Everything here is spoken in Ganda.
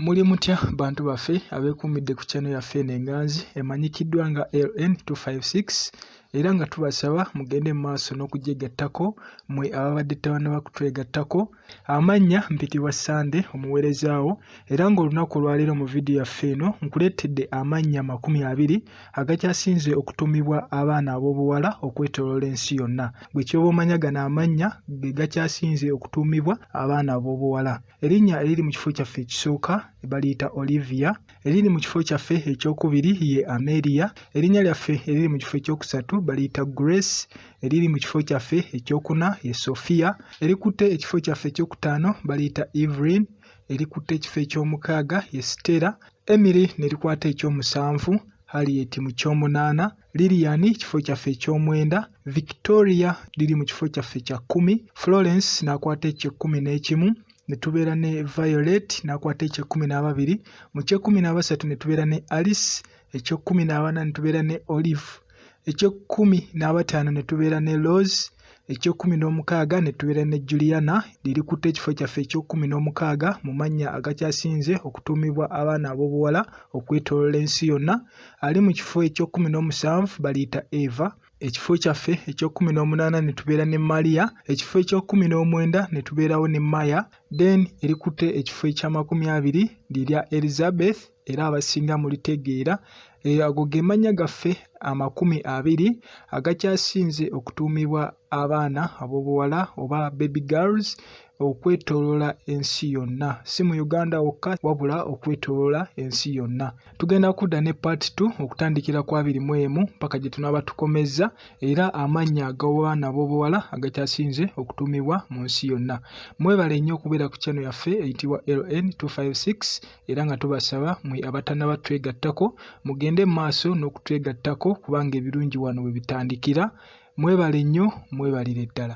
Muli mutya bantu baffe abeekuumidde ku channel yaffe eno enganzi emanyikiddwa nga LN256 era nga tubasaba mugende mu maaso n'okugyegattako mwe ababadde tebannaba kutwegattako. Amannya mpitibwa Ssande omuweerezaawo era ng'olunaku olwaleero mu vidiyo yaffe eno nkuleetedde amannya amakumi abiri agakyasinze okutuumibwa abaana ab'obuwala okwetooloola ensi yonna. Gwe ky'oba omanya gano amannya ge gakyasinze okutuumibwa abaana ab'obuwala. Erinnya eriri mu kifo kyaffe ekisooka baliyita Olivia, eriri mu kifo kyaffe ekyokubiri ye Amelia, erinnya lyaffe eriri mu kifo ekyokusatu baliyita Grace, eriri mu kifo kyaffe ekyokuna ye Sophia, erikutte ekifo kyaffe ekyokutaano baliyita Evelyn, erikutte ekifo ekyomukaaga ye Stella, Emily ne likwata ekyomusanvu Harriet mu kyomunaana. Lilian kifo kyaffe eky'omwenda, Victoria liri mu kifo kyaffe kya kkumi, Florence n'akwata eky'ekkumi n'ekimu, ne tubeera ne Violet n'akwata eky'ekkumi n'ababiri, mu ky'ekkumi n'abasatu ne tubeera ne Alice, eky'ekkumi n'abana ne tubeera ne Olive, eky'ekkumi n'abataano ne tubeera ne Rose, eky'ekkumi n'omukaaga ne tubeera ne Juliana lirikutte ekifo kyaffe eky'ekkumi n'omukaaga mu mannya agakyasinze okutuumibwa abaana ab'obuwala okwetooloola ensi yonna. Ali mu kifo eky'ekkumi n'omusanvu baliyita Eva. Ekifo kyaffe eky'ekkumi n'omunaana ne tubeera ne Maria. Ekifo eky'ekkumi n'omwenda ne tubeerawo ne Maya. Then erikutte ekifo eky'amakumi abiri lirya Elizabeth. era abasinga mulitegeera eh, ago ge mannya gaffe amakumi abiri agakyasinze okutuumibwa abaana ab'obuwala oba baby girls okwetoloola ensi yonna si mu uganda wokka wabula okwetoloola ensi yonna tugenda kudda ne part t okutandikira ku abiri mu emu mpaka gye tunaaba tukomezza era amannya agawaana ab'obuwala agakyasinze okutuumibwa mu nsi yonna mwebale nnyo okubeera ku kyano yaffe eyitibwa ln 256 era nga tubasaba mwe abatanaba twegattako mugende mu maaso n'okutwegattako kubanga ebirungi wano we bitandikira mwebale nnyo mwebalire ddala